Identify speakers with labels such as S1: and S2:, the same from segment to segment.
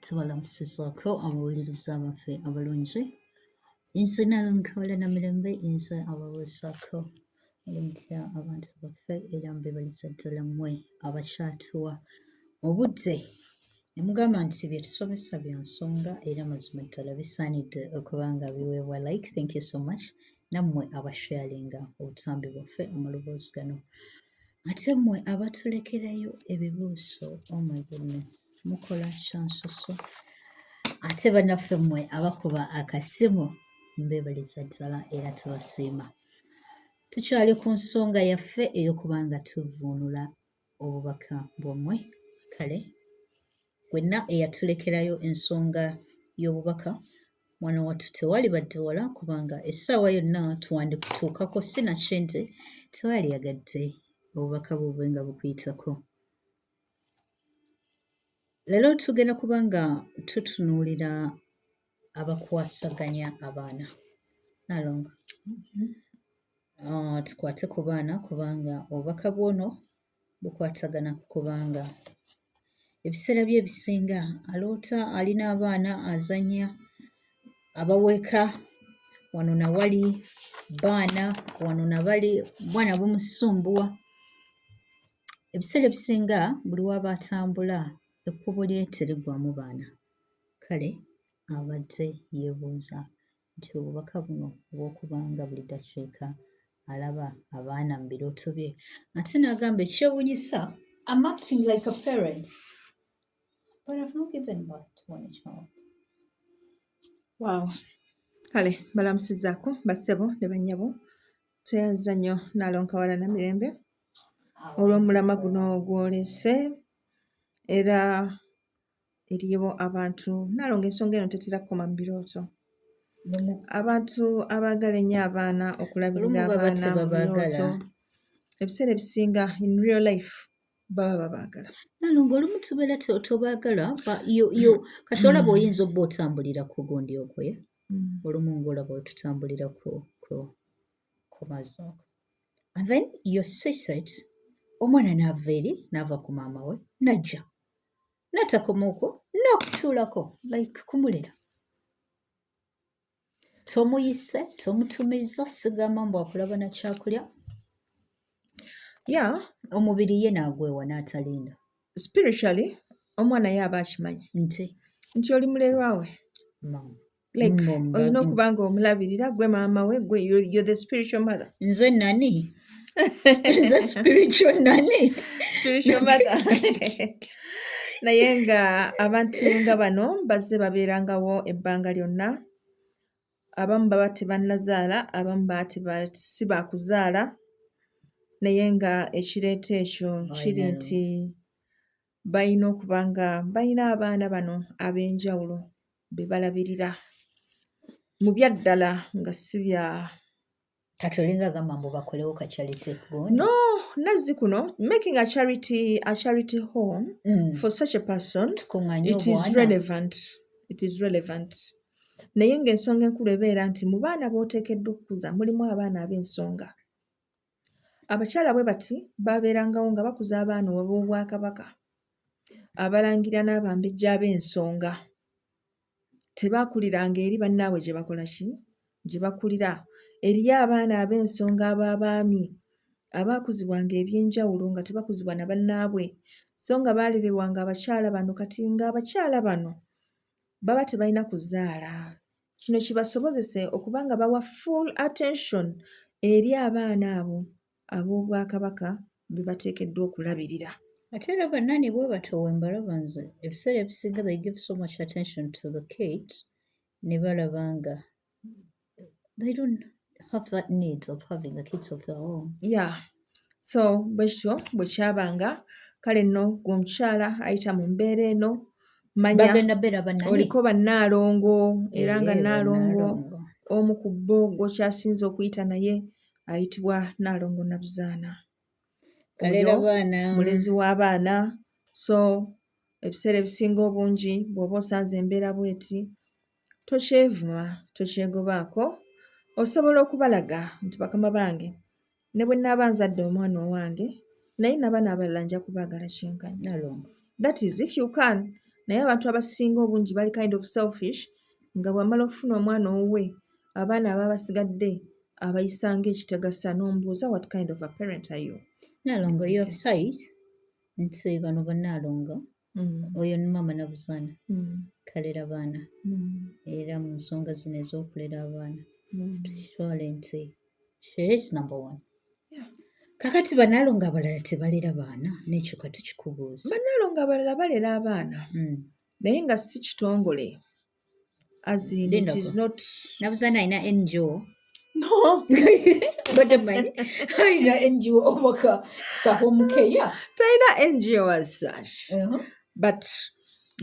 S1: tubalamusizaako abawuliriza abaffe abalungi ensi nayo nkola na mirembe ensi abaweesaako olimutya abantu baffe era mbebaliza ddala mmwe abakyatuwa obudde ne mugamba nti bye tusomesa bya nsonga era mazima ddala bisaanidde okuba nga biweebwa like thank you so much nammwe abasharinga obutambi bwaffe amaloboozi gano Ate mmwe abatulekerayo ebibuuso oh my goodness mukola kyansusu ate banaffe mmwe abakuba akasimu mbebaliza ddala era tubasiima tukyali ku nsonga yaffe ey'okuba nga tuvvuunula obubaka bwammwe kale Wenna eyatulekerayo ensonga y'obubaka mwana wattu tewali badde wala kubanga essaawa yonna twandikutuukako si nakyo nti tewali yagadde obubaka bwobwe nga bukuyitako leero tugenda kuba nga tutunuulira abakwasaganya abaana nalonga mm-hmm. ah, tukwate ku baana kubanga obubaka bwono bukwatagana ku kubanga ebiseera bye ebisinga aloota ali n'abaana azannya abaweka wano na wali baana wano na bali bwana bumusumbuwa ebiseera ebisinga buli waba atambula ekkubo lye teriggwamu baana kale abadde yeebuuza nti obubaka buno obw'okuba nga buli dakiika alaba abaana mu birooto bye ate n'agamba ekyewunyisa am acting like a parent but I've not given birth to any child
S2: wow kale balamusizaako bassebo ne bannyabo tweyanziza nnyo nalonkawala na mirembe olw'omulama guno ogwolese era eriyo abantu nalonga ensonga eno tetera kukoma mu birooto abantu abaagala ennyo abaana okulabirira abaana mu birooto ebiseera ebisinga in real life baba babaagala nalonga olumu
S1: tubeera tobaagala kati olaba mm. oyinza obba otambulira ku gundi ogwe mm. olumu ngaolaba otutambulira ku mazo and then your suicide omwana naava eri naava ku maama we najja natakoma okwo n'okutuulako like kumuliro tomuyise tomutumiza sigamba mbu akulaba na kyakulya ya
S2: omubiri ye naagwewa
S1: n'atalinda spiritually
S2: omwana ye aba akimanyi nti nti oli mulerwawe mama like olina okuba nga omulabirira gwe maama we gwe you're the spiritual mother nze nani
S1: nze spiritual nani spiritual mother
S2: naye nga abantu nga bano bazze babeerangawo ebbanga lyonna abamu baba tebannazaala abamu baba si baakuzaala naye nga ekireeta ekyo kiri nti balina okuba nga balina abaana bano ab'enjawulo be balabirira mu byaddala nga si bya kati
S1: olinga agamba mbu bakolewo ka charity no nazzi
S2: kuno making a charity a charity home mm. for such a person it is relevant it is relevant naye ng'ensonga enkulu ebeera nti mu baana b'oteekeddwa okukuza mulimu abaana ab'ensonga Abakyala bwe bati baabeerangawo nga bakuza abaana ab'Obwakabaka, Abalangira n'Abambejja ab'ensonga. Tebaakuliranga eri bannaabwe gye bakola ki? Gye bakulira. Eriyo abaana ab'ensonga ab'abaami abaakuzibwanga eby'enjawulo nga tebakuzibwa na bannaabwe so nga baalererwanga abakyala bano kati ng'abakyala bano baba tebalina kuzaala. Kino kibasobozese okuba nga bawa full attention eri abaana abo ab'Obwakabaka be bateekeddwa okulabirira. Ate era bannanni
S1: bwe batyo we mbalaba nze ebiseera ebisinga they give so much attention to the kids ne balaba nga they don't have that need of having the kids of their own. Yeah.
S2: so bwe kityo bwe kyabanga kale nno gwe omukyala ayita mu mbeera eno manya oliko bannaalongo era nga eh, nnaalongo omu ku bo gwokyasinze okuyita naye ayitibwa nnaalongo nabuzaana oyo mulezi w'abaana so ebiseera ebisinga obungi bw'oba osanze embeera bweti tokyevuma tokyegobaako osobola okubalaga nti bakama bange Ne bwe naaba nzadde omwana owange naye nabaana abalala nja kubaagala kyenkanyi. Nalongo. That is if you can. Naye abantu abasinga obungi bali kind of selfish nga bw'amala okufuna omwana owuwe abaana aba basigadde abayisa ng'ekitagasa n'ombuuza what kind of a parent are you? Nalongo your
S1: site nti bano bannaalongo Mm. oyo ni maama nabuzaana mm. kalera baana mm. era mu nsonga zino ez'okulera abaana tukitwale nti shees number one kakati banaalo nga abalala tebalera baana nekyo kati kikubuuza banaalo nga abalala
S2: balera abaana naye nga si kitongole nabuza nalina
S1: ngo alina ngo omaka kahomukeya talina ngo
S2: as such uh-huh. but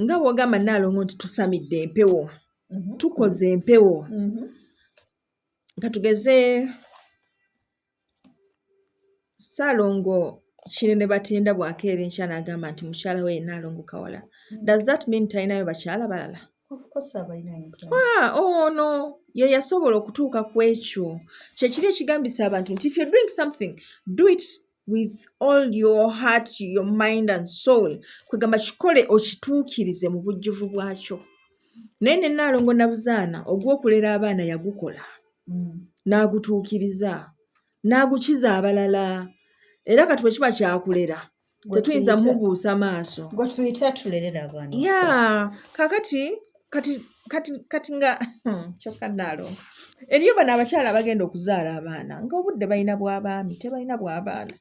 S2: nga wogamba naalongo nti tusamidde empewo mm-hmm. tukoze empewo mm-hmm. katugeze Ssaalongo Kinene Batenda bw'akeera enkya n'agamba nti mukyala we ye Nnaalongo Kawala, does that mean talinayo bakyala balala?
S1: ono
S2: ye yasobola okutuuka ku ekyo kyekiri ekigambisa abantu nti if you're doing something do it with all your heart your mind and soul kwegamba kikole okituukirize mu bujjuvu bwakyo naye ne Nnaalongo Nabuzaana ogw'okulera abaana yagukola. n'agutuukiriza n'agukiza abalala era kati bwe kiba kyakulera tetuyinza mubuusa maaso
S1: ya kakati kati kati
S2: kati nga hmm, kyokka naalonga eriyo bano abakyala abagenda okuzaala abaana ng'obudde balina bw'abaami tebalina bw'abaana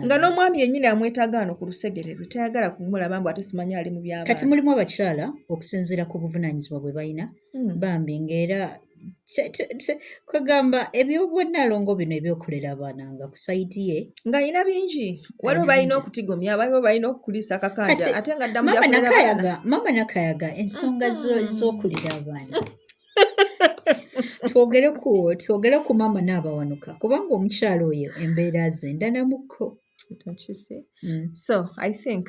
S2: nga n'omwami yennyini amwetaaga wano ku lusegere lwe tayagala kumulaba mbu ate simanya ali mu by'abaana kati mulimu abakyala
S1: okusinziira ku buvunaanyizibwa bwe balina hmm, bambi ng'era kwegamba ebyobwannalongo bino ebyokulera abaana nga ku sayidi ye nga alina bingi
S2: waliwo balina okutigomya waliwo balina okukulisa akakanja ate nga ddamu mama nakayaga
S1: ensonga mm-hmm. z'okulera abaana twogere ku twogere ku maama n'abawanuka kubanga omukyalo oyo embeera ze ndanamuko mm.
S2: so i think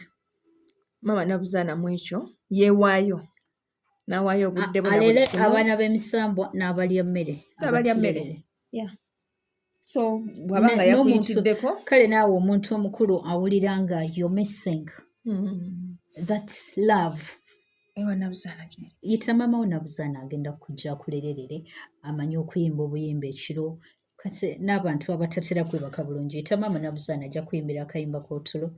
S2: maama nabuzaana mu ekyo yeewaayo nawaayo obudde alere abaana
S1: b'emisambwa n'abalya mmere abalya mmere
S2: so bwaba nga yakuyitiddeko kale naawe omuntu
S1: omukulu awulira nga yo missing hmm. thats love
S2: yita maama wo
S1: nabuzaana agenda kujja akulererere amanyi okuyimba obuyimba ekiro kati n'abantu abatatera kwebaka bulungi yita maama nabuzaana ajja kuyimbira akayimba kotulo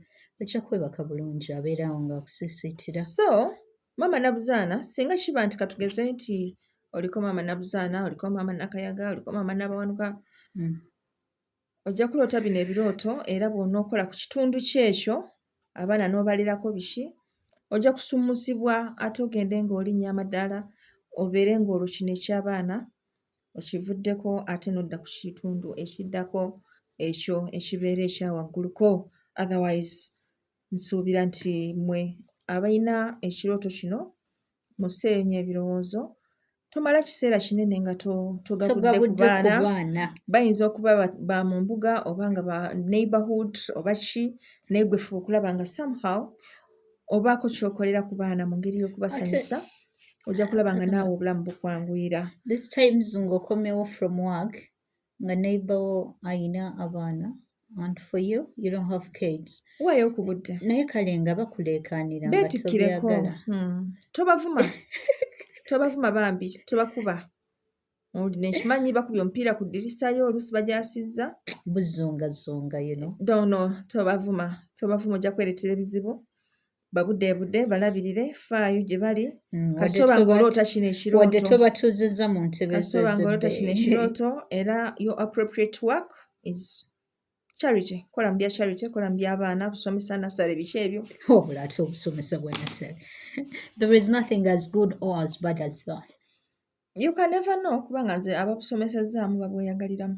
S1: ajja kwebaka bulungi abeerawo ngaakusisiitira so
S2: Maama Nabuzaana singa kiba nti katugeze nti oliko maama Nabuzaana, oliko maama Nakayaga, oliko maama Nabawanuka, mm. ojja kuloota bino ebirooto era bw'onookola ku kitundu kyo ekyo abaana n'obalirako biki ojja kusumusibwa ate ogende ng'olinnya amadaala obeere ng'olwo kino eky'abaana okivuddeko ate n'odda ku kitundu ekiddako ekyo ekibeera ekyawagguluko otherwise Nsuubira nti mmwe abalina ekirooto kino museeyo nnyo ebirowoozo. Tomala kiseera kinene nga togagudde ku baana. Bayinza okuba ba mu mbuga oba nga ba neighborhood oba ki naye gwe fuba okulaba nga somehow obaako kyokolera ku baana mu ngeri y'okubasanyusa ojja kulaba nga naawe obulamu bukwanguyira. This times
S1: ng'okomewo from work nga neighbor wo ayina abaana and for you you don't have kids wayo okubudde
S2: naye kale nga
S1: bakuleekaanira betikireko hmm.
S2: tobavuma tobavuma bambi tobakuba nekimanyi bakubya omupiira ku ddirisa yo oluusi bajasizza buzungazunga
S1: you know dono
S2: tobavuma tobavuma ojja kwereetera ebizibu babudeebude balabirire faayo gye bali mm, kasitoba ng'oloota kino ekirootowadde tobatuuzizza mu ntebe kasitoba ng'oloota kino ekirooto era your appropriate work is charity kola mu bya charity kola mu by'abaana busomesa nasale biki ebyo obula oh, ate obusomesa
S1: bwa nasale there is nothing as good or as bad as that you can
S2: never know kubanga nze ababusomesezaamu babweyagaliramu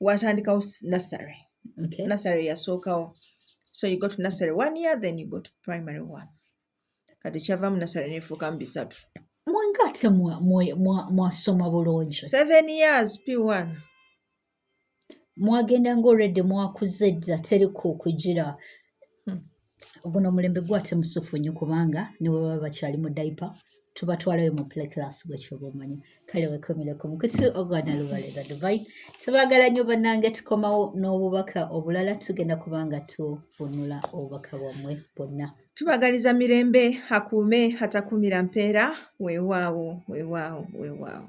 S2: watandikawo nasary okay. nasary
S1: yasookawo
S2: so you go to nasary one year then you go to primary one kati kyavamu nasary nefuukamu bisatu mwanga ate
S1: mwasoma bulungi seven years p
S2: one mwagenda
S1: nga olredde mwakuze dda teri kukugira guno omulembe gwate musufu nnyo kubanga ne bwe baba bakyali mu daipa tubatwalayo mu play class gwekyoba omanyi kale wekomereko mukusi ogwana lubalera dubai tubagala nnyo bannange tukomawo n'obubaka obulala tugenda kubanga tuvunula obubaka bwammwe bwonna tubagaliza mirembe
S2: akuume atakuumira mpeera weewaawo weewaawo weewaawo